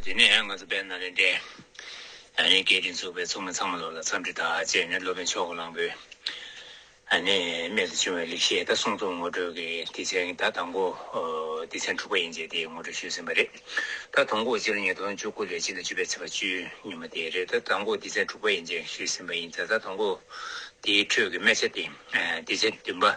དེ་ནས་ང་ཚོ་དཔལ་ནཱ་ལེནྡྲའི་རྒྱལ་རིགས་འཛུགས་པའི་ཚོགས་མི་ཚང་མ་ལོག་ལ་འཚམས་འདྲི་དག་བཅས་ནས་སློབ་དཔོན་ཕྱོགས་གླང་པོའི་རྨད་དུ་བྱུང་བའི་ལེགས་བཤད་དང་གསུང་རྩོམ་ངོ་སྤྲོད་ཀྱི་སྡེ་ཚན་གྱི་ད་དང་པོ་སྡེ་ཚན་དྲུག་པ་ཡན་ཆད་དེ་ངོ་སྤྲོད་ཞུས་ཟིན་པ་རེད་ད། དང་པོ་སྤྱི་ལོ་ཉིས་སྟོང་བཅུ་དགུ་ལོའི་སྤྱི་ཟླ་བཅུ་པའི་ཚེས་པ་བཅུ་ཉིན་མ་དེ་རེད་ད། དང་པོ་སྡེ་ཚན་དྲུག་པ་ཡན་ཆད་ཞུས་ཟིན་པ་ཡིན་ད། ད་དང་པོ་དེའི་ཁྲོད་ཀྱི་དམད་ཆ་དེ་སྡེ་ཚན་བདུན་པ།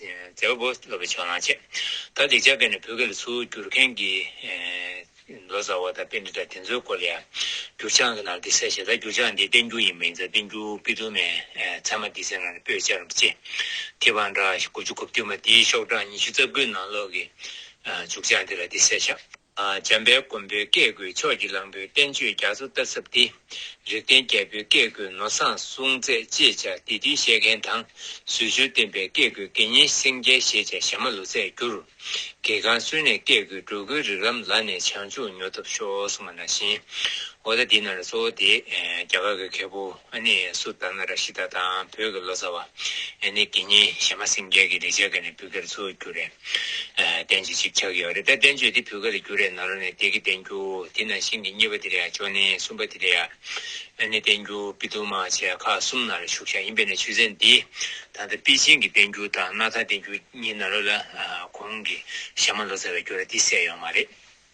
མཛད་པ་པོ་སློབ་པའི་ཕྱོགས་ནང་ཆེ། ད་འདི་ཅག་གི་ནི་བོད་སྐད་ལ་ཚུར་བསྒྱུར་མཁན་གྱི། ལོ་ཙཱ་བ་དང་དཔེ་འདི་དག་དེ་ཚོའི་སྐོར་ལ་ཡང། འགྱུར་བྱང་གི་ནང་དུ་འདི་གསལ་བྱེད་ད་འགྱུར་བྱང་འདི་བསྟན་འགྱུར་ཡིན་མིན་ཙམ་བསྟན་འགྱུར་དཔེ་དུ་མའི་ཚད་མ་འདི་ཚོའི་ནང་ནས་པོད་སྦྱར་བ་ཅི། ཐེ་བང་འདྲ་དགུ་བཅུ་གོ་བདུན་པ་དེའི་ཤོག་གྲངས་ཉི་ཤུ་རྩ་དགུའི་ནང་ལོག་གི། འཇུག་བྱང་འདི་ལ་འདི་གསལ་བྱ། འཇམ་དཔལ་མགོན་པོའི་བཀས་བཀོད་ཕྱོགས་ཀྱི་གླང་པོའི་བསྟན་བཅོས་རྒྱ་མཚོ་རྟ་ཚབ་སྟེ། རིགས་ལྡན་རྒྱལ་པོའི་བཀས་བཀོད་ནོར་བཟང་གསུང་མཛད་ཅེས་བྱ་དེ་དུས་བཤད་མཁན་དང་ཟོལ་བཅུར་བསྟན་པའི་བཀས་བཀོད་དགེ་བསྙེན་སེང་རྒྱལ་ཞེས་བྱ་ཞྭ་མ་ལོ་ཚད་བསྒྱུར། གེ་གང་བསུན་ནས་བཀས་བཀོད་འགྲོ་མགོན་རིགས་ལམ་ལ་ནས་བྱང་ཆུབ་ཉོ་ཐབས་ཤོག་གསུངས་པ་ནང་བཞིན། ཨོ་ད་དེ་ན་རེ་གཙོ་བོ་དེ་རྒྱ་གར་གྱི་མཁས་པོ། ཨ་ནེ་ཡན་སུ་དཱ་ན་ར་ཤི་ད་དང་བོད་ཀྱི་ལོ་ཙཱ་བ་ཨེ་ནེ་ཀི་གཉིས་གཞས་མ་སེང་རྒྱལ་གྱི་རིག་བྱེད་ཀ་ནས་བུ་ག་རེ་འཚོལ་རྒྱུ་རེད། བསྟན་བཅོས་གཅིག་ཆགས་ཀྱི་ཡོད་རེད་དཱ་བསྟན་བཅོས་དེ་བུ་ག་ལ་རྒྱུ་རེད་ན་རོ་ནས་དེ་གི་བསྟན་རྒྱུ་དེ་ནང་བཞིན་གྱི་གཉིས་པ་དེ་རེད་ཡ་ཅོ་ནེ་གསུམ་པ་དེ་རེད་ཡ། ཨེ་ནེ་བསྟན་རྒྱུ་པི་ཏུ་མ་བྱས་ཁ་གསུམ་ན་རེ་བཞུགས་ཤག་ཡིན་པས་ནས་ཆོས་ཚན་འདི་ད་ལྟ་པི་ཅིང་གི་བསྟན་རྒྱུ་དང་སྣ་ཐང་བསྟན་རྒྱུ་གཉིས་ན་རོ་ལ་གོང་གི་གཞས་མ་ལོ་ཙཱ་བའི་རྒྱུ་ར་དེ་གསལ་ཡོད་མ་རེད།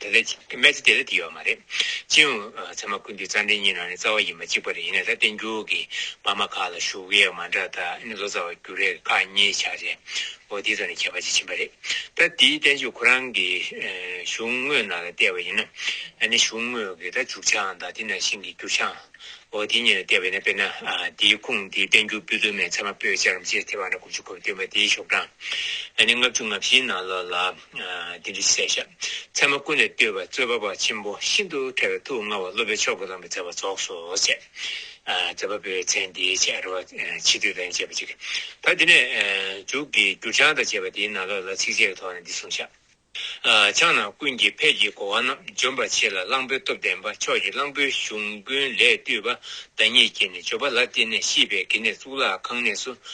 དེ་ལས་ཅི་གི་སྨྲས་ཚེ་དེ་ལས་དེ་ཡོད་མ་རེད། ཅི་ཡང་ཚད་མ་ཀུན་འདུས་རྩ་འགྲེལ་གཉིས་ནང་ནས་རྩ་བ་ཡིན་པ་གཅིག་པ་རེད་ཡིན་ན་ད་བསྟན་འགྱུར་གྱི་པར་མ་ཁག་ལ་བཞུགས་ཀྱི་ཡག་མ་འདྲ་ད་ནི་ལོ་ཙཱ་བ་འགྱུར་རེ་ཁག་གཉིས་ཆགས་རེ་འོ་དེའི་ཐོག་ནས་ཁྱད་པར་ཅི་ཕྱིན་པ་རེད་ད་དེའི་བསྟན་བཅོས་ཁོ་རང་གི་གཞུང་དངོས་ནང་ལ་བལྟས་པ་ཡིན་ན་ད་ནི་གཞུང་དངོས་ཀྱི་ད་འཇུག་བྱའང་དང་དེ་ནང་བཞིན་གྱི་འགྱུར་བྱའང་འོ་དེ་གཉིས་ལ་བལྟས་པ་ཡིན་ན་དཔེར་ན་དེའི་ཁུངས་དེའི་བསྟན་འགྱུར་པོད་དུ་མའི་ཚད་མ་པོད་བཅར་རམ་ཅེས་དེ་བར་ན་དགུ་བཅུ་གོ་བ་བསྟན་པ་དེའི་ཤོག་གྲངས་ད་ནི་ལྔ་བཅུ་ང་བཞིའི་ནང་ལོགས་ལ། དེ་འདི་སྲས་ཤ་ཚལ་མ་ཀུན་ལས་བཏུས་པ་རྩོད་པ་པ་ཆེན་པོ་ཤིན་ཏུ་ཕྲ་བའི་ཐུགས་མངའ་བ་སློབ་པའི་མཆོག་གི་ལམ་གྱི་མཛད་པ་རྫོགས་སོ་ཞེས། མཛད་པ་པོའི་མཚན་འདིའི་ཆེ་རུ་བ་ཕྱི་དུས་དང་བཅས་པ་གཅིག་གིས་ད་འདི་ནས། འཇུག་གི་འགྱུར་བྱང་དང་བཅས་པ་དེའི་ནང་ལོགས་ལ་ཚིགས་བཅད་ཀྱི་ཐོག་ནས་འདི་གསུངས་བྱ། ཕྱག་ན་ཀུན་གྱི་ཕས་ཀྱི་གོ་བ་རྣམས་འཇོམས་པར་བྱེད་ལ་གླང་པོའི་སྟོབས་ལྡན་པ་ཕྱོགས་ཀྱི་གླང་པོའི་གཞུང་ཀུན་ལས་བཏུས་པ་བདག་ཉིད་ཀྱིས་ནི་བརྗོད་པ་ལ་བརྟེན་ནས་ཤིས་པའི་དགེ་གནས་གཙུག་ལག་ཁང་གནས་སུ་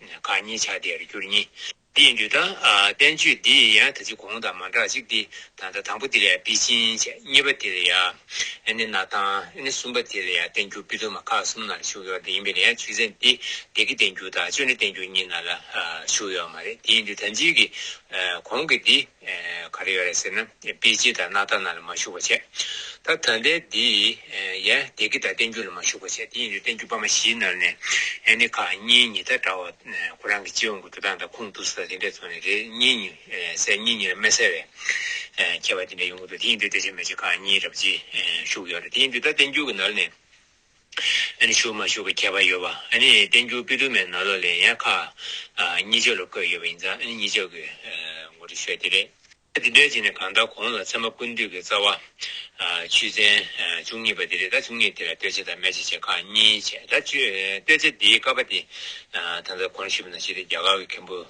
གང་མཉེས་བྱ་སྟེ་རུ་གྱུར་གཉིས། འདི་ཡི་འགྲོས་དང། བསྟན་བཅོས་འདི་ཡི་ཡང་དག་ཅིག་གོང་དང་མ་འདྲ་ཅིག་སྟེ། ད་ལྟ་དང་པོ་དེ་ལ་པི་ཅིན་བྱ། གཉིས་པ་དེ་ལ་ཡ། ཨེ་ནི་ན་ཐང། ཨེ་ནི་གསུམ་པ་དེ་ལ་ཡ་བསྟན་འགྱུར་པི་ཏོ་མ་ཁ་གསུམ་ན་ལ་ཞུགས་ཡོད་དེ་ཡིན་པས་ན་ཡང་ཚུལ་ཚན་འདི་འདི་གི་བསྟན་འགྱུར་དང་བཅོས་འདྲི་བསྟན་འགྱུར་གཉིས་ན་ལ་ཞུགས་ཡོད་མ་རེད་དེ་ཡིན་དུས་དམ་ཚིག་གི། གོང་གི་འདི། ག་རེ་ཡོད་རེད་ཟེར་ན་དཔེ་སྤྱི་དང་སྣ་ཐ་ན་ལ་མ་ཞུགས་པ་བྱས། ད་ད་ལྟའི་འདི་ཡན་དེ་གི་ད་བསྟན་རྒྱུ་ལ་མ་ཞུགས་པ་བྱས་དེ་ཡིན་དུས་བསྟན་རྒྱུ་པ་མ་བཞིའི་ནང་ནས་ཨེ་ནི་ཁག་གཉིས་གཉིས་ད་གྲྭ་བ་ཁོ་རང་གི་སྤྱི་ཡོངས་ཀྱི་འགྲོ་སྟངས་དང་ཁུངས་གཏུགས་ས་དང་དེ་འདྲས་ཚོ་ནི་རེ་གཉིས་གཉིས་གསལ་གཉིས་གཉིས་ལ་མི་གསལ་བའི་ཁྱད་པར་དེ་འདྲས་ཡོང་གི་འདུག་དེ་ཡིན་དུས་བསྟན་བྱ་མི་བྱ་ཁག་གཉིས་རབ་བྱེད་ཞུགས་ཡོད་རེད་དེ་ཡིན་དུས་ད་བསྟན་རྒྱུ་གི་ནང་ནས་ཞུགས་མ་ཞུགས་ཀྱི་ཁྱད་པར་ཡོད་པ། བསྟན་འགྱུར་དཔེ་དུ་མའི་ནང་ལོ་ལེགས་ཡན་ཁག་གཉིས་ཆ་ལ་བཀོད་ཡོད་པ་ཡིན་ཙང་གཉིས་ཆ་གི་ངོ་སྤྲོད་ཤོས་དེ་རེད། དེ་འདྲའི་རྗེས་ནས་གང་ལྟར་གོང་ལ་ཚད་མ་ཀུན་བཏུས་ཀྱི་རྩ་བ། ཆུ་ཚན་བཅུ་གཉིས་པ་དེ་རེད་ད་བཅུ་གཉིས་དེ་ལ་བསྟོད་ཆ་དང་སྨད་ཆ་བྱེད་ཁག་གཉིས་བྱས་ད་བསྟོད་ཆ་དེའི་ཀ་པ་དེ་ད་ལྟ་གོང་ཞུས་པ་ན་བྱས་ཏེ་རྒྱ་གར་གྱི་མཁན་པོ།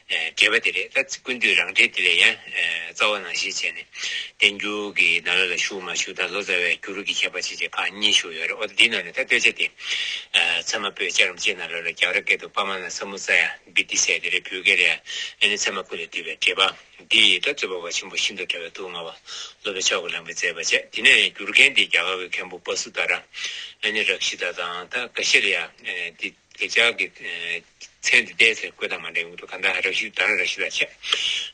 དགེ་བ་དེ་རེད་ད་ཀུན་འདུས་རང་འགྲེལ་དེ་ལས་ཡང་རྩ་བ་ནང་བཞིན་བྱས་ནས་བསྟན་འགྱུར་གྱི་ནཱ་ལ་ལ་ཞུགས་མ་ཞུགས་དང་ལོ་ཙཱ་བའི་འགྱུར་གྱི་ཁྱད་པར་ཅི་བྱས་ཁག་གཉིས་ཞུགས་ཡོད་རེད་འོ་ད་འདིའི་ནང་ནས་ད་བསྟོད་བྱ་དེ། ཚད་མ་པོས་ལྕགས་རམ་ལྕེ་ནཱ་ལ་ལ་རྒྱག་ར་སྐད་དུ་པདྨ་ནཱ་ས་མུ་ཙཱ་ཡ་བི་ཏི་སེ་དེ་རེད་བོད་སྐད་རེད་ཨ་ནི་ཚད་མ་པོ་ལས་བཏུས་པའི་འགྲེལ་པ་འདི་ཡིས་ད་རྩོད་པ་བ་ཆེན་པོ་ཤིན་ཏུ་བཀྲ་བའི་སྡུག་བསྔལ་བ་སློབ་པའི་ཕྱོགས་ཀྱི་ལམ་གྱི་མཛད་པ་བྱས་དེ་ནས་བསྒྱུར་མཁན་དེ་རྒྱ་གར་གྱི་མཁན་པོ་བ་སུ་དཱ་ར་ཨ་ནི་རབ་ཤི་ད་དང་ད་ཀ་ཤི་ར་ཡ་ཨ་ནི་དེ། དེ་ཅག་གི་མཚན་དེ་བལྟས་ཚེ་བཀོད་དང་མ་འདྲེས་འོད་དུ་གང་དག་རབ་ཞིབ་དང་རབ་ཞི་ལ་ཆགས།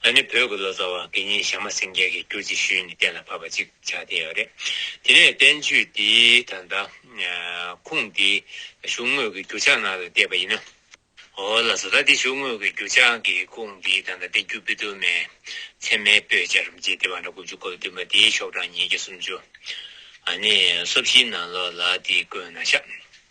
ང་ནི་བོད་ཀྱི་ལོ་ཙཱ་བ་འགས་ཉིན་ཞག་མ་ཟིན་རྒྱལ་གྱི་གྱུར་ཅིག་ཞུས་ནས་གཏན་ལ་ཕབ་པ་ཅིག་ཆགས་བསྡད་ཡོད་རེད། དེ་ནས་བསྟན་བཅོས་འདིའི་ད་ལྟ་ཁུངས་འདི་གཞུང་དངོས་ཀྱི་འགྱུར་ཕྱག་ནང་ལ་བསྡད་པ་ཡིན་ནོ། ཨོ་ལ་ཙཱ་ད་འདི་གཞུང་དངོས་ཀྱི་འགྱུར་ཕྱག་གི་ཁུངས་འདིའི་ད་ལྟ་བསྟན་བཅོས་པི་ཏུ་མའི་ཚད་མའི་པོད་བཅའ་རུ་འབྱེད་བདེ་བ་འདྲ་དགུ་བཅུ་གོ་བདུན་པ་འདིའི་ཤོག་གྲངས་ཉིས་བརྒྱ་སུམ་ཅུ། ནི་སོ་བཞིའི་ནང་ལོགས་ལ་འདི་བཀོད་ན་ཤ།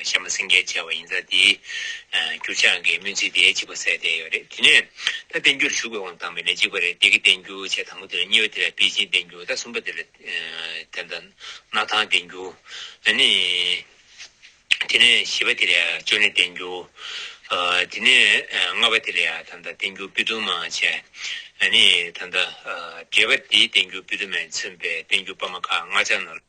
བཤད་མ་སེང་གེ་བྱ་བ་ཡིན་ཙང་དེའི་འགྱུར་ཕྱག་འགའི་སྨོན་ཚིག་དེ་གཅིག་པ་གསལ་བསྡད་ཡོད་རེད་དེ་ནས་ད་བསྟན་འགྱུར་ཞུགས་པའི་དབང་དང་མི་ལན་གཅིག་པ་རེད་བདེ་སྐྱིད་བསྟན་འགྱུར་བྱས་དང་པོ་དེ་ལ་གཉིས་པ་དེ་ལ་པེ་ཅིན་བསྟན་འགྱུར་ད་གསུམ་པ་དེ་ལ་དེ་ལྟ་ན་ཐང་བསྟན་འགྱུར་ཨ་ནི་དེ་ནས་བཞི་པ་དེ་ལ་ཅོ་ནེ་བསྟན་འགྱུར་དེ་ནས་ལྔ་པ་དེ་ལ་ཡང་ད་ལྟ་བསྟན་འགྱུར་པི་ཏུ་མ་བྱས་ཨ་ནི་ད་ལྟ་བརྒྱད་པ་དེའི་བསྟན་འགྱུར་པི་ཏུ་མས་མཚོན་པའི་བསྟན་འགྱུར་པ་མ་ཁ་ལྔ་ཆ་ནོར།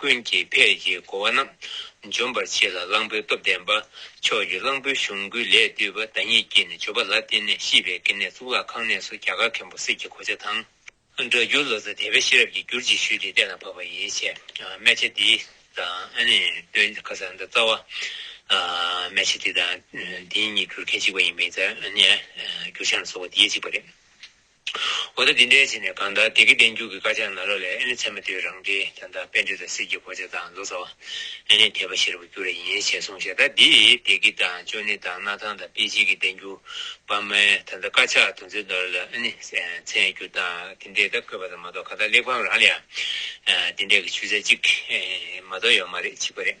ཀུན་གྱི་ཕས་ཀྱི་བསྒོ་བ་རྣམས། འཇོམས་པར་བྱེད་ལ་གླང་པོའི་སྟོབས་ལྡན་པ། ཕྱོགས་ཀྱི་གླང་པོའི་གཞུང་ཀུན་ལས་བཏུས་པ་བདག་ཉིད་ཀྱིས་ནི་བརྗོད་པ་ལ་བརྟེན་ནས་ཤིས་པའི་དགེ་ནས་གཙུག་ལག་ཁང་གནས་སུ་རྒྱ་གར་མཁན་པོ་སྲིད་ཀྱི་གོ་ཆ་དང། སྒྲ་བསྒྱུར་ལོ་ཙཱ་དད་པའི་ཤེས་རབ་ཀྱིས་བསྒྱུར་ཅིག་ཞུས་ཏེ་སྟན་ལ་བབས་པ་ཡིན། ཆད་མེ་ཆད་དེ་དང། སྟོན་ཁ་སང་དང་རྩ་བ། མེ་ཆད་དེ་དང། དེ་གཉིས་བསྒྱུར་མཁན་གཅིག་པ་ཡིན་པས། བསྒྱུར་བྱང་ལ་སོགས་པ་དེ་གཅིག་པ་རེད། འོ་ད་འདི་འདྲའི་ཆེད་ནས་གང་ལྟར་དེ་གའི་བསྟན་འགྱུར་གྱི་དཀར་ཆག་ནག་རོ་ལས་ཨེ་ནི་ཚད་མ་དེ་བས་རང་འགྲེལ་དང་དང་དཔེ་འགྲེལ་དང་སྲིད་ཀྱི་གོ་ཆ་དང་མདོ་རྩ་བ། ཨེ་ནི་དད་པ་ཤེས་རབ་འགྱུར་བ་ཡིན་ཞེས་གསུངས་ཤ་སྟག་འདི་དེ་གའི་དང་ཅོ་ནེ་དང་སྣར་ཐང་དང་དཔེ་ཆེན་གྱི་བསྟན་འགྱུར་བ་མའི་ད་ལྟ་དཀར་ཆག་དོན་ཚན་དོར་ལ་ཨེ་ནི་ཚན་འགྱུར་དང་དེ་འདྲས་ད་བཀོད་པ་དང་མ་གཏོགས་ག་ད་གླེགས་བམ་རང་ལ་ཡང་དེ་འདྲས་ཀྱི་ཆུ་ཚད་གཅིག་མ་གཏོགས་ཡོད་མ་རེད་གཅིག་པ་རེད།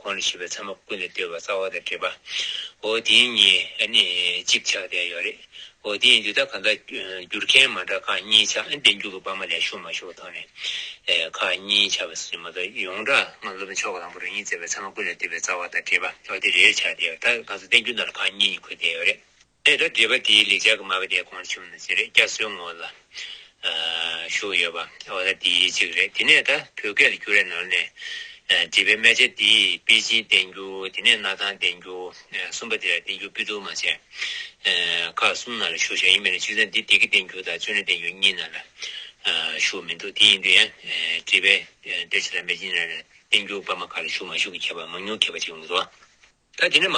ཁོང་ལ་བྱིས་པའི་མཚན་མ་ཀུན་ལས་བརྟོལ་བ་རྩ་བ་དང་བྲལ་བའོ། དེ་གཉིས་ནི་གཅིག་ཆགས་བསྡད་ཡོད་རེད། དེ་ཡིན་དུས་ད་ག་འདྲ་འགྱུར་མཁན་མ་འདྲ་ཁག་གཉིས་ཆགས་བསྡད་འགྱུར་གི་བ་མ་ལས་ཤོར་མ་ཤོར་ཐང་ནས་ཁག་གཉིས་ཆགས་པ་སུ་ཡིན་མ་གཏོགས་ཡོངས་གྲགས་ང་སློབ་དཔོན་མཆོག་གི་དང་པོ་རང་ཉིད་བརྩེ་བའི་མཚན་མ་ཀུན་ལས་བརྟོལ་བའི་རྩ་བ་དང་བྲལ་བ་དེ་རེད་ཆགས་བསྡད་ཡོད་ད་ག་ཚོད་བསྡད་འགྱུར་ནང་ལ་ཁག་གཉིས་གཉིས་འཁོད་བསྡད་ཡོད་རེད། དེ་ལྟར་འདྲིས་པ་དེའི་ལེགས་སྦྱར་གྱི་མ་ག་དའི་གོང་ཆུང་ནི་ཅི་རེད་སྐྱ་བསོའི་ངོ་ལ་ཞུགས་ཡོད་པ་འོ་ད་དེའི་གཅིག་རེད་དེ་ནས་ད་བོད་སྐད་ལ་འགྱུར་རེ་ནོར་ནས་བྲིས་པའི་སྨད་ཆ་དེ་པི་ཅིན་བསྟན་འགྱུར་དེ་ནས་གནའ་ཐང་བསྟན་འགྱུར་གསུམ་པ་དེ་ལ་བསྟན་འགྱུར་པི་ཏུ་མ་བྱས་ཁག་གསུམ་ནང་ལ་ཞུགས་བྱ་ཡིན་མི་རེད་ཅུང་ཟད་འདི་དེ་གི་བསྟན་འགྱུར་དང་བཙོན་རའི་བསྟན་འགྱུར་གཉིས་ནང་ལ་ཞུགས་མི་འདུག་དེ་ཡིན་དུས་ཡང་བྲིས་པའི་སྡེར་ཆ་ལ་མེ་ཅིན་ར་ལ་བསྟན་འགྱུར་པ་མ་ག་ལ་ཞུགས་མ་ཞུགས་ཀྱི་ཁྱད་པར་མང་ཉུང་གྱེས་པ་ཅིག་མི་འདུག། ད་དེ་ནི་མ།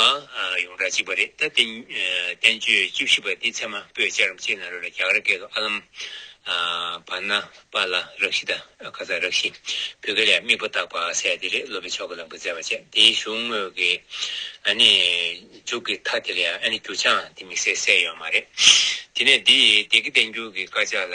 ཡོངས་གྲགས་གཅིག་པ་རེད་ད། བསྟན་བཅོས་བཅུ་བཞི་པ་འདི་ཚད་མ་པོས་སྤྱད་རམ་སྤྱད་ན་རོལ་ལ་རྒྱ་གར་སྐད་དུ་ཨ་ལམ། བར་ན། པ་ལ་རག་ཤི་དང་ཀ་ཚ་རག་ཤི། བོད་སྐད་ལས་དམིགས་པ་བཏགས་པ་གསལ་དེ་རེད་སློབ་པའི་ཕྱོགས་ཀྱི་ལམ་གྱི་བརྩེ་བ་བཅས་དེའི་གཞུང་དངོས་ཀྱི། ཨ་ནི། འཇུག་གི་མཐའ་དེ་ལ་ཡང་ཨ་ནི་འགྱུར་བྱང་དེ་དམིགས་བསལ་གསལ་ཡོད་མ་རེད། དེ་ནས་འདི་དེ་གི་བསྟན་འགྱུར་གྱི་དཀར་ཆག་ལ།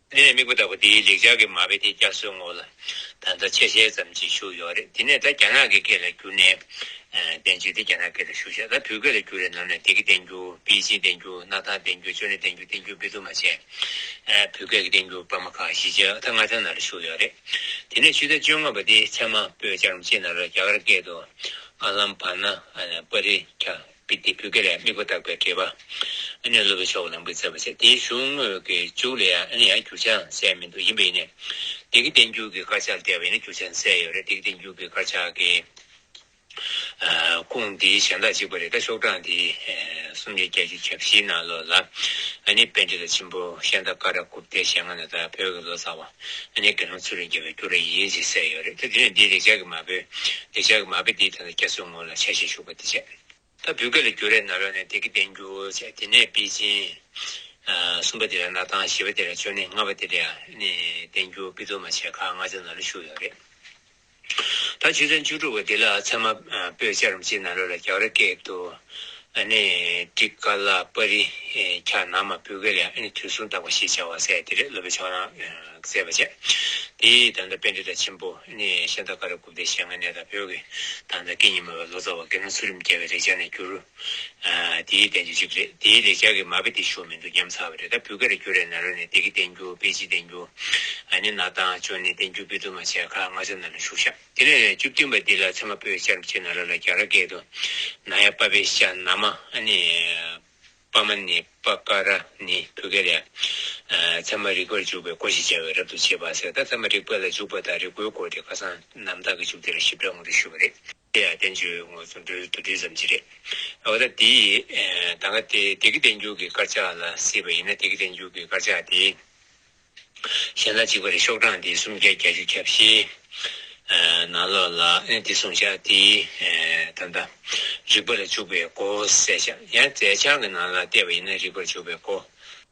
དེ་ནས་མིག་པོ་ལྟ་བུ་འདིའི་ལེགས་སྦྱར་གྱི་མ་དཔེ་དེ་སྐྱ་སོའི་ངོ་ལ་ད་ལྟ་ཆེས་ཞལ་ཙམ་གྱིས་བཞུགས་ཡོད་རེད་དེ་ནས་ད་རྒྱ་ནག་གི་སྐད་ལ་བསྒྱུར་ནས་བསྟན་ཅིག་དེ་རྒྱ་ནག་སྐད་ལ་བཞུགས་ཤག་ད་བོད་སྐད་ལ་བསྒྱུར་རེ་ནམ་ནས་དེ་གི་བསྟན་བསྒྱུར་པེ་ཅིན་བསྟན་བསྒྱུར་གནའ་ཐང་བསྟན་བསྒྱུར་ཅོ་ནེ་བསྟན་བསྒྱུར་བསྟན་བསྒྱུར་བེ་དུ་མ་བྱས་བོད་སྐད་ཀྱི་བསྟན་བསྒྱུར་པར་མ་ཁག་བཞི་ཅག་ད་སྔ་ཚན་ནང་ལ་བཞུགས་ཡོད་རེད་དེ་ནས་ཕྱི་ཟླ་བཅོ་ལྔ་པ་དེའི་མཚན་མ་པོད་བཅར་རམ་ཅི་ནང་ལ་རྒྱ་གར་སྐད་དུ་ཨ་ལམ་བྷ་ན་ཨ་ནས་པ་རི་ཁྱ་པའི་དེ་བུ་ག་ལས་དམིགས་པ་བརྟགས་པའི་འགྲེལ་པ། ཨ་ནི་སློབ་པའི་ཕྱོགས་ལམ་གྱི་མཛད་པ་བྱ། དེའི་གཞུང་དངོས་ཀྱི་འཇུག་ལ་ཡང་ཨ་ནི་ཡང་འགྱུར་ཆའང་གསལ་མི་འདུག་ཡིན་པ་ཡིན་ནས། སྡེ་དགེ་བསྟན་འགྱུར་གྱི་དཀར་ཆག་བལྟས་པ་ཡིན་ན་འགྱུར་ཆ་གསལ་ཡོད་རེད་སྡེ་དགེ་བསྟན་འགྱུར་གྱི་དཀར་ཆག་གི། ཁུངས་འདི་གཞན་དག་གཅིག་པ་རེད་ད་ཤོག་གྲངས་དེ། སུམ་བརྒྱ་བརྒྱད་ཅུ་གྱ་བཞིའི་ནང་ལོ་ལ། ཨ་ནི་དཔལ་འབྲི་ལ་ཆེན་པོ་ཤན་ཏཱ་ཀ་ར་ཀུབ་ཏའི་ཞལ་སྔ་ནས་དར་བའི་བོད་ཀྱི་ལོ་ཙཱ་བ། ཨ་ནི་དགེ་སློང་ཚུར་རེ་འགྱེལ་བའི་རྒྱུ་རེ་ཡིན་ཅེས་གསལ་ཡོད་རེད་ད་དེ་ནས་འདིའི་ལེགས་སྦྱར་གྱི་མ་བོས་ལེགས་སྦྱར་གྱི་མ་བོས་འདིའི་ཐད་ལ་བསྐྱར་གསོའི་ངོ་ལ་ཆ་ཤས་ཞུགས་པ་དེ་བྱས་རེད། ད་བུ་ག་ལ་རྒྱུ་རེ་ན་ལོ་ནས་དེ་གི་བསྟན་རྒྱུ་བྱས་དེ་ནས་པེ་ཅིན། གསུམ་པ་དེ་ལ་ན་ཐང་བཞི་པ་དེ་ལ་ཅོ་ནེ་ལྔ་པ་དེ་ལ་ཨ་ནི་བསྟན་རྒྱུ་པི་ཏོ་མ་བྱས་ཁག་ལྔ་ཆ་ན་ལ་ཞུགས་ཡོད་རེད། ད་བྱེད་ཚན་བཅུ་དྲུག་པ་འདི་ལ་ཚད་མ་པོད་ཅར་རམ་ཅིག་ན་ལོ་ལ་རྒྱ་ར་ཀས་ཏུ་ནི་ཏྲི་ཀ་ལ་པ་རི་ཁྱ་ནང་མ་པུ་ཀ་ལ་ནི་དུས་གསུམ་དག་པ་ཞེས་བྱ་བ་གསལ་ཏེ་རེ་ལོ་པའི་ཕྱོགས་ན་བཙས་པ་བྱས། དེའི་ད་ནི་པན་ཏི་ཏཱ་ཆེན་པོ་ནི་ཤ་ད་ཀ་ར་ཀུབ་ཏའི་ཞལ་སྔ་ནས་དང་བོད་ཀྱི་ད་ནི་ཀ་ཉི་མ་བའི་ལོ་ཙཱ་བ་དགེ་སློང་ཚུལ་རིམ་རྒྱལ་བའི་རེག་བྱ་ནས་བསྒྱུར། དེའི་བསྟན་བྱ་གཅིག་རེད་དེའི་ལེགས་སྦྱར་གྱི་མ་དཔེ་དེ་ཞུ་མི་འདུག་ཉམས་ཚར་བ་རེད་ད་བུ་ག་རེ་བསྐྱུར་རེ་ན་རོ་ནས་དེ་གི་བསྟན་འགྱུར་དཔེ་ཅི་བསྟན་འགྱུར་ཨ་ནི་ན་དང་ཅོ་ནི་བསྟན་འགྱུར་དཔེ་བསྡུར་མ་བྱས་ཁ་སྔ་ཆ་ན་ལ་ཞུགས་ཤག་དེ་ནས་བཅུ་བདུན་པ་འདི་ལ་ཚད་མ་པོད་ཅར་བྱས་ན་ར་ལ་རྒྱ་ར་སྐད་དུ་ན་ཡ་པ་བེ་ཤ་ན་མ་ཨ་ནི་པ་མ་ནི་པ་ཀ་ར་ནི་བུ་ག་རེ་ཚད་མ་རིག་པར་འཇུག་པའི་སྒོ་ཞེས་བྱ་བའི་རབ་ཏུ་བྱེད་པ་ཟེར་ད་ཚད་མ་རིག་པ་ལ་འཇུག་པ་དང་རིག་སྒོའི་སྐོར་དེ་ཁ་སང་ནམ་ཐག་གི་བཅུ་དེ་ལ་ཞིབ་ཕྲ་ངོ་སྤྲོད་ཞུས་པ་རེད། དེ་ཡང་བསྟན་བཅོས་ངོས་ཚོ་འགྲོས་དུ་བྲིས་ཙམ་གྱིས་རེད། འོ་ད་དེ་ཡིས་ད་ག་དེ་དེ་གི་བསྟན་འགྱུར་གྱི་དཀར་ཆག་ལ་སྲིད་པ་ཡིན་ན་དེ་གི་བསྟན་འགྱུར་གྱི་དཀར་ཆག་དེ་གཞན་ལ་གཅིག་པ་རེད་ཤོག་གྲངས་དེ་སུམ་བརྒྱ་བརྒྱ་ཅུ་གྱ་བཞི་ན་ལོག་ལ་ཨེ་དེ་གསུངས་བཞག་དེ་ད་ལྟ་རིག་པ་ལ་འཇུག་པའི་སྒོ་གསལ་བཞག་ཡང་རྫས་ཆང་གི་ནང་ལ་བལྟས་པ་ཡིན་ན་རིག་པར་འཇུག་པའི་སྒོ།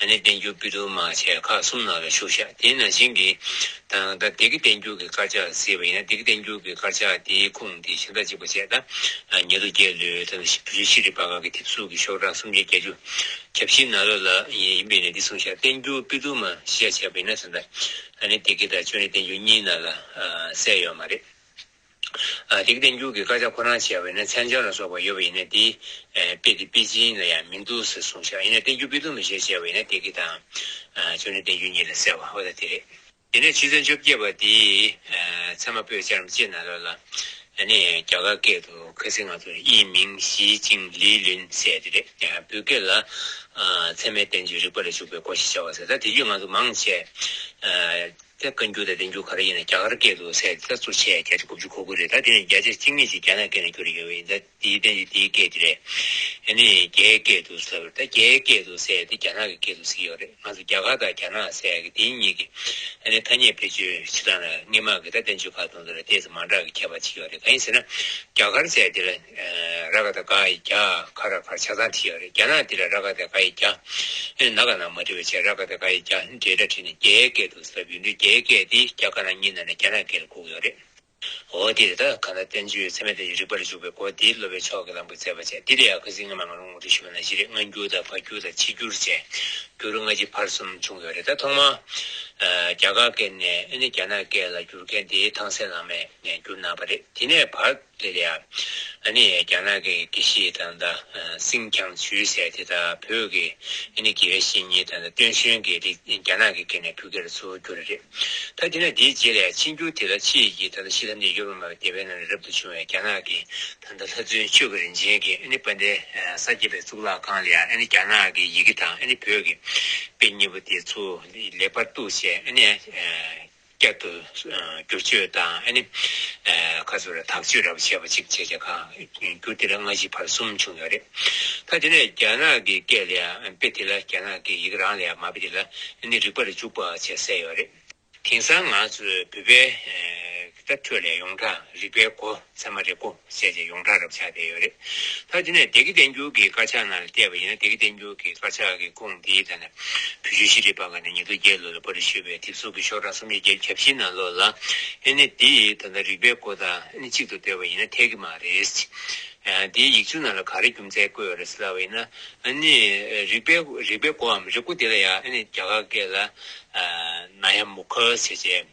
ཨ་ནི་བསྟན་འགྱུར་དཔེ་བསྡུར་མ་བྱས་ཁག་གསུམ་ནང་ལ་ཞུགས་བཞག་དེས་ན་གཞན་གྱི་དང། ད་ལྡེ་ཀི་བསྟན་འགྱུར་གྱི་དཀར་ཆག་ཟེར་བ་ཡིན་ན་ལྡེ་ཀི་བསྟན་འགྱུར་གྱི་དཀར་ཆག་དེའི་ཁུངས་དེ་གཞན་དག་གཅིག་པ་བྱས་ད། ཉེ་དུ་རྒྱལ་ལོའི་དང་བོད་ཆུ་ཤེས་རིག་པ་ཁག་གི་དེབ་གཟུགས་ཀྱི་ཤོག་གྲངས་སུམ་བརྒྱ་བརྒྱད་ཅུ། ཁྱབ་ཤིང་ནག་ལོ་ལ། ཡིན་པས་ནས་འདི་གསུངས་བཞག་བསྟན་འགྱུར་དཔེ་བསྡུར་མ་ཞེས་བྱ་བྱས་པ་ཡིན་ན་ད། ཨ་ནི་ལྡེ་ཀི་དང་ཅོ་ནེ་བསྟན་འགྱུར་གཉིས་ནང་ལ་གསལ་ཡོད་མ་རེད། རིགས་ལྡན་རྒྱུད་ཀྱི་དཀར་ཆག་ཁོ་རང་བྱས་པ་ཡིན་ན་མཚན་བྱང་ལ་སོགས་པ་ཡོད་པ་ཡིན་ན་དེ། དཔེ་དེ་དཔེ་ཅན་ལ་ཡང་མི་འདུག་ཟེར་གསུངས་ཤག་ཡིན་ན་བསྟན་རྒྱུད་དཔེ་དུམ་ལ་བཞེད་ཅེས་པ་ཡིན་ན་དེ་གི་དང། ཆོས་ནི་བསྟན་རྒྱུད་གཉིས་ལ་གསལ་བ་ཨོ་ད་དེ་རེད། དེ་ནས་ཕྱི་ཚན་བཅོ་བརྒྱད་པ་དེ། ཚད་མ་པོད་བཅར་མི་བྱེད་ན་ལོ་ལ། ནི་རྒྱ་གར་སྐད་དུ་ཁ་སིང་ང་ཚོར་དབྱིན་མིང་ཞི་ཅིང་ལིས་ལིན་ཟེར་དེ་རེད། བོད་སྐད་ལ། ཚད་མའི་བསྟན་བཅོས་རིག་པ་ལ་ཞུགས་པའི་སྐོར་ཞེས་བྱ་བ་ཟེར་ད་དེ་རྒྱུད་ང་ཚོ་མང་ཆེ། ཚད་བཀའ་འགྱུར་དང་བདེ་འགྱུར་ག་རེ་ཡིན་ན་རྒྱ་གར་སྐད་དུ་ཚད་གསར་བཙུགས་བྱས་ཡ་བརྒྱ་ཆ་དགུ་བཅུ་གོ་དགོས་རེད་ད་དེ་ནི་རྒྱ་ཆ་གཅིག་མེད་ཅིག་རྒྱ་ནག་སྐད་ནས་བསྒྱུར་ཡོང་བ་ཡིན་ད་དེའི་བསྟན་བྱའི་དེའི་སྐད་དེ་རེད་ཡ་ནི་རྒྱའི་སྐད་དུ་ཚད་བར་ད་རྒྱའི་སྐད་དུ་ཚད་དེ་རྒྱ་ནག་གི་སྐད་དུ་ཚིག་ཡོད་རེད་ང་ཚོ་རྒྱ་གར་དང་རྒྱ་ནག་ཚད་གི་དེ་གཉིས་ཀྱི་ཡ་ནི་ཐ་སྙད་བེད་སྤྱོད་བྱེད་སྟངས་ལ་སྔས་མ་གི་ད་བསྟན་བཅོས་ཁ་བཏང་དུ་ལ་ལྟས་ཚེ་མང་དྲག་གི་ཁྱད་པར་ཅིག་ཡོད་རེད་ག་ཡིན་ཟེར་ན་རྒྱ་གར་ཚད་དེ་ལ། ར་ག་ད་ག་ཡི་རྒྱ་ག་ར་གར་ཆ་ཚང་བྲི་ཡག་རེད་རྒྱ་ནག་འདི་ལ་ར་ག་ད་ག་ཡི་རྒྱ་ནག་ག་ནང་མ་བྲི་བ་བྱས་ར་ག་ད་ག་ཡི་རྒྱ་འདྲེ་འདྲ་བྲིས་ནས་རྒྱའི་སྐད་དུ་ཟབ་ཡུལ་འདི་རྒྱའི་སྐད་དེ་རྒྱ་ག་ན་གཉིས་ནང་ནས་རྒྱ་ནག་སྐད་ལ་གུག་ཡོག་རེད། འོ་དེ་རེད་ད་ག་ད་བསྟན་བཅོས་ཚད་མེད་དེ་རིག་པར་འཇུག་པའི་སྒོ་དེ་སློབ་པའི་ཕྱོགས་ཀྱི་ལམ་གྱི་བརྩེ་བ་ཅན་དེ་ལས་ཡག་གི་ཟིག་ང་མ་ང་རུང་ངུ་དུ་ཞུ་བ་ན་གཞི་རེད་སྔ་འགྱུར་དང་བར་འགྱུར་དང་ཕྱི་འགྱུར་བཅས་འགྱུར་ལྔ་སྤྱི་ཕར་གསུམ་བྱུང་ཡོག་རེད་ད་ཐོག་མ་རྒྱ་ག་སྐད་ནས་རྒྱ་ནག་སྐད་ལ་འགྱུར་མཁན་དེ་ཐང་སེ་ལང་མས་འགྱུར་གནང་བ་རེད་དེ་ནས་བར། དེ་ལས་ཨ་ནི་རྒྱ་ནག་གི་དགེ་བཤེས་དང་ད་སིང་ཁྱང་ཆུའི་ཟས་དེ་དག་བོད་ཀྱི་ཨ་ནི་དགེ་བའི་བཤེས་གཉེན་དང་ད་ཏུན་ཞོན་གྱིས་དེ་རྒྱ་ནག་གི་སྐེ་ནས་ཕུད་ཁེར་འཚོལ་རྒྱུ་རེད། ད་དེ་ནས་དེའི་རྗེས་ལས་ཕྱི་འགྱུར་དེ་དག་ཕྱིས་ཀྱི་ད་ཤི་ལྷ་འདྲེ་ཡོད་པ་མ་རྒྱལ་བའི་ནང་ནས་རབ་ཏུ་བྱུང་བའི་རྒྱ་ནག་གི་ད་ལྷ་བཙུན་ཆོས་ཀྱི་རིན་ཆེན་གྱི་ཨ་ནི་པ་འདྲེ་ས་སྐྱེས་པའི་གཙུག་ལག་ཁང་ལས་ཨ་ནི་རྒྱ་ནག་གི་ཡི་གེ་དང་ཨ་ནི་བོད་ཀྱི་དཔེ་གཉིས་པོ་དེ་ཚུར་ལེགས་པར་བཏུགས་བྱས་ཨ་ནི་བསྐྱར་དུ་བསྒྱུར་བཅོས་དང་ཨ་ནི། ཁ་ཚུར་ལ་དག་བཅོས་ར་བྱས་པ་གཅིག་བྱས་རྗེས་ཁག་བསྒྱུར་དེ་ལ་སྔ་ཕྱི་བར་གསུམ་བྱུང་ཡོད་རེད། ད་དེ་ནས་རྒྱ་ནག་གི་སྐད་ལ་ཡང་དཔེ་དེ་ལ་རྒྱ་ནག་གི་ཡིག་རང་ལ་ཡང་མ་དཔེ་དེ་ལ་ནི་རིག་པ་ལ་འཇུག་པ་བྱས་གསལ་ཡོད་རེད། དེང་སང་ང་ཚོས་བོད་པའི་ཁྲོད་ལས་ཡོངས་གྲགས་རིག་པའི་སྒོ་ཚད་མ་རེད་གོ། བཤད་བྱའི་ཡོངས་གྲགས་རབ་ཆགས་བསྡད་ཡོད་རེད། ད་དེ་ནས་སྡེ་དགེ་བསྟན་འགྱུར་གྱི་དཀར་ཆག་ནང་ལ་བལྟས་པ་ཡིན་ན་སྡེ་དགེ་བསྟན་འགྱུར་གྱི་དཀར་ཆག་གི་སྐོང་འདིའི་ཐད་ན། བོད་ཆུ་བཞི་རི་སྤར་ཁ་ནས་ཉི་ཟླ་བརྒྱད་ལོ་ལ་པར་རིས་ཞུས་པའི་དེབ་གཟུགས་ཀྱི་ཤོག་གྲངས་སུམ་བརྒྱ་བརྒྱད་བརྒྱ་བཞི་ནང་ལོགས་ལ། ཨེ་ནི་འདི་ད་ལྟ་རིག་པའི་སྐོར་དང་ཨེ་ནི་གཅིག་ཏུ་འདོད་པ་ཡིན་ན་འཐད་ཀྱི་མ་རེད། འདིའི་ཡིག་ཆུང་ནང་ལ་ག་རེ་རྒྱུ་མཚན་བཀོད་རེད་ལབ་པ་ཡིན་ན། ཨེ་ནི། རིག་པའི། རིག་པའི་སྐོར་འམ་རེ་སྐོར་འདི་ལ་ཡང་ཨེ་ནི་རྒྱ་གར་སྐད་ལ། Nayamukha། བྱས་བྱས།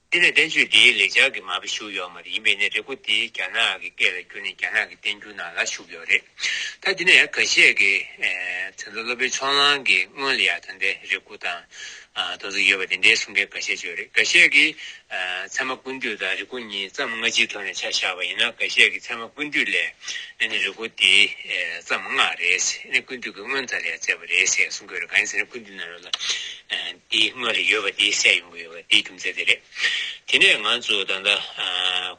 དེ་ལས་བསྟན་བཅོས་འདིའི་ལེགས་སྦྱར་གྱི་མ་དཔེ་ཞུགས་ཡོད་མ་རེད་ཡིན་པས་ནི་རེ་སྒུག་འདི་རྒྱ་ནག་གི་སྐད་ལ་བསྒྱུར་ནས་རྒྱ་ནག་གི་བསྟན་འགྱུར་ནང་ལ་ཞུགས་ཡོད་རེད་ད་དེ་ནས་ག་བཤད་ཀི་ད་ལྟ་སློབ་དཔོན་ཕྱོགས་གླང་གིས་སྔོན་ལ་ཡང་ད་ལྟའི་རེ་སྒུག་དང་དོ་ཚིགས་ཡོད་པ་དེ་འདྲའི་གསུང་མཁན་ག་བཤད་བྱོས་རེད་ག་བཤད་ཀི་ཚད་མ་ཀུན་བཏུས་དང་རེ་སྒུག་གཉིས་བརྩམས་སྔ་ཕྱིའི་ཐོག་ནས་ཆ་བཞག་པ་ཡིན་ན་ག་བཤད་ཀི་ཚད་མ་ཀུན་བཏུས་ལས་ནི་རེ་སྒུག་འདི་བརྩམས་སྔ་རེད་ཀུན་བཏུས་ཀྱི་སྔོན་ད་ལ་ཡང་བཙལ་བ་རེད་ཟེར་གསུང་དགོས་རེད་ག་ཡིན་ཟེར་ན་ཀུན་བཏུས་ནང་རོལ་ལ་དེའི་སྔོན་ལ་ཡོད་པ་དེ་བསད་ཡོང་གི་ཡོད་པ་དེའི་རྒྱུ་མཚན་དེ་རེད། དེ་ནས་ང་ཚོས་ད་ལྟ་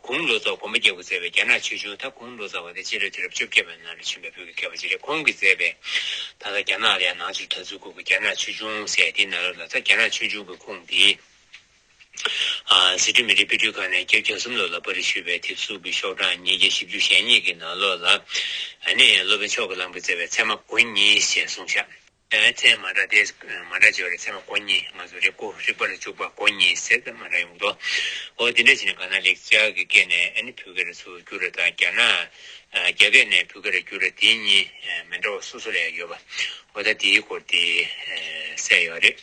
གུང་ལོ་ཙཱ་གོམ་པ་རྒྱག་པར་མཛད་པའི་རྒྱ་ནག་ཆོས་འབྱུང་ད་གུང་ལོ་ཙཱ་བ་དེ་སྤྱི་ལོའི་དུས་རབས་བཅོ་བརྒྱད་པའི་ནང་ལ་བྱོན་པའི་བོད་ཀྱི་མཁས་པ་ཅིག་རེད་ཁོང་གིས་མཛད་པའི་ད་ལྟ་རྒྱ་ནག་ལ་ཡང་ནང་ཆོས་གྲྭ་ཚུགས་དགོས་ཀྱི་རྒྱ་ནག་ཆོས་འབྱུང་ཟེར་དེའི་ནང་ལོ་ལ་ཙཱ་རྒྱ་ནག་ཆོས་འབྱུང་གི་ཁུངས་དེ་ཟི་ཁྲོན་མི་རིགས་དཔེ་སྐྲུན་ཁང་ནས་བརྒྱ་བརྒྱ་གསུམ་ལོ་ལ་པར་རིས་ཞུས་པའི་དེབ་གཟུགས་ཀྱི་ཤོག་གྲངས་ཉིས་བརྒྱ་བཞི་བཅུ་ཞེ་གཉིས་ཀྱི་ནང་ལོ་ལ་ནི་སློབ་དཔོན་མཆོག་གི་ལམ་གྱིས་མཛད་པའི་ཚད་མ་དགུ་གཉིས་ཞེས་གསུངས་ཤག། ཨའི་མཚན་མ་སྒྲ་དེས་མ་སྒྲ་བྱེད་པ་ལ་མཚན་མ་གོ་གཉིས་ང་ཚོ་རེ་སྐུ་རིག་པ་ལ་འཇུག་པ་གོ་གཉིས་ཟེར་ཏེ་མ་སྒྲ་ཡོང་གི་འདུག་འོ་དེ་འདྲ་བྱས་ནས་གང་ན་ལེགས་སྐྱག་གི་སྐད་ནས་ཨ་ནི་བུ་ག་ར་སུ་བསྒྱུར་ར་དང་རྒྱ་ན་རྒྱ་སྐད་ནས་བུ་ག་ར་བསྒྱུར་ར་དེ་གཉིས་མི་འདྲ་བ་སོ་སོ་ལ་ཡང་ཡོད་པ་འོ་ད་དེའི་སྐོར་དེ་གསལ་ཡོད་རེད།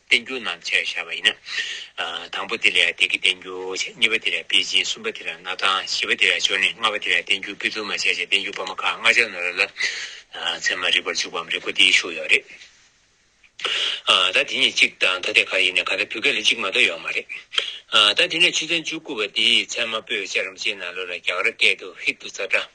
བསྟན་འགྱུར་རྣམས་བཅས་བྱ་བ་ཡིན། དང་པོ་དེ་ལས་བདེ་སྐྱིད་བསྟན་འགྱུར་བྱ། གཉིས་པ་དེ་ལས་པེ་ཅིན་གསུམ་པ་དེ་ལས་གནའ་ཐང་བཞི་པ་དེ་ལས་ཅོ་ནེ་ལྔ་བ་དེ་ལས་བསྟན་འགྱུར་པི་ཏུ་མ་བཅས་བྱས་བསྟན་འགྱུར་པར་མ་ཁག་ལྔ་ཆ་ནོར་ལ། ཚད་མ་རིག་པར་འཇུག་པའམ་རིག་པ་འདིའི་ཤུགས་ཡོད་རེད། ད་དེ་གཉིས་གཅིག་དང་ཐ་དད་ག་ཡིན་ནའི་ག་ད་བུ་ག་ལས་གཅིག་མ་གཏོགས་ཡོད་མ་རེད། ད་དེ་ནས་ཆུ་ཚན་བཅུ་དགུ་པ་འདིས་ཚད་མ་པོད་བཅས་རམ་བཅས་ན་ལོ་ལ་རྒྱག་ར་སྐད་དུ་ཧིག་ཏུ་ཙ་སྒྲ།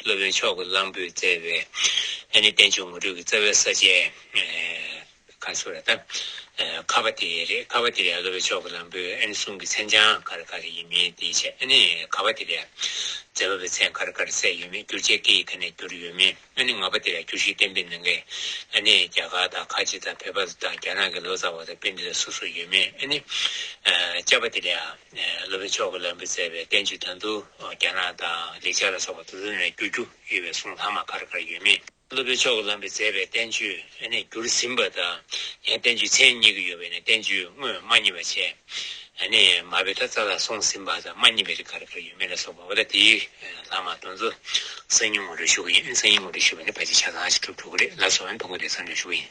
སློབ་དཔོན་མཆོག་གི་གླང་པོས་བཙལ་བའི། ཨ་ནི་བསྟན་བཅོས་ངོ་སྤྲོད་ཀྱི་རྩ་བའི་ས་བཅད། ཁ་སུ་ར་ཏཱི། ཁ་བ་ཏི་རེ་རེ་ཁ་བ་ཏི་རེ་ཨ་སློབ་དཔོན་མཆོག་གི་གླང་པོས་ཨ་ནི་གསུང་གི་མཚན་བྱང་ག་རེ་ག་རེ་ཡིན་མིན་དེའི་ཆ་ཨ་ནི་ཁ་བ་ཏི་རེ་ཨ། མཛད་པ་པའི་མཚན་ག་རེ་ག་རེ་གསལ་ཡོད་མེད་བསྒྱུར་བྱའི་སྐད་ཡིག་ག་ནས་བསྒྱུར་ཡོད་མིན་ཨ་ནི་ང་བ་ཏི་རེ་ཨ་བསྒྱུར་གཞི་བསྟན་པའི་ནང་གི་ཨ་ནི་རྒྱ་གར་དང་ཁ་ཆེ་དང་བྷེ་བྷ་ལ་དང་རྒྱ་ནག་གི་ལོ་ཙཱ་བ་དང་དཔེ་འདི་ལ་སོ་སོར་ཡོད་མིན་ཨ་ནི། ལྕགས་བ་ཏི་རེ་ཨ། སློབ་དཔོན་མཆོག་གིས་བླ་འབུལ་བསྩལ་བའི་བསྟན་བཅོས་དོན་དུ་རྒྱ་ནག་དང་ལེགས་སྦྱར་ལ་སོགས་པ་དུ་དུ་ནས་བསྒྱུར་རྒྱུ་ཡོད་པའི་གསུང་ལྷག་མ་གར་གར་ཡོད་མེད། སློབ་དཔོན་མཆོག་གིས་བླ་འབུལ་བསྩལ་བའི་བསྟན་བཅོས་ནས་བསྒྱུར་ཟིན་པ་དང། ཡང་བསྟན་བཅོས་མཚན་ཉིད་ཀྱི་ཡོད་པས་ནི་བསྟན་བཅོས་དངོས་མ་རྙེད་པ་ཆེ། ནས་མ་བི་ད་ཙཱ་ལ་གསུངས་ཟིན་པ་དང་མ་རྙེད་པའི་རིགས་གར་གར་ཡོད་མེད་ལ་སོགས་པ་འོ་ད་དེའི་ལྷག་མ་དོན་དུ་གསང་སྙིང་ངོ་སྤྲོད་ཞུ་གི་ཡིན་གསང་སྙིང་ངོ་སྤྲོད་ཞུས་པ་ནི་བ་ཅི་ཆ་ཚང་ཞིག་གྲུབ་འགྲོ་གི་རེད་ལ་སོགས་ཡང་དུ་འགོད་དེ་གསང་སྦྱོང་ཞུ་གི་ཡིན།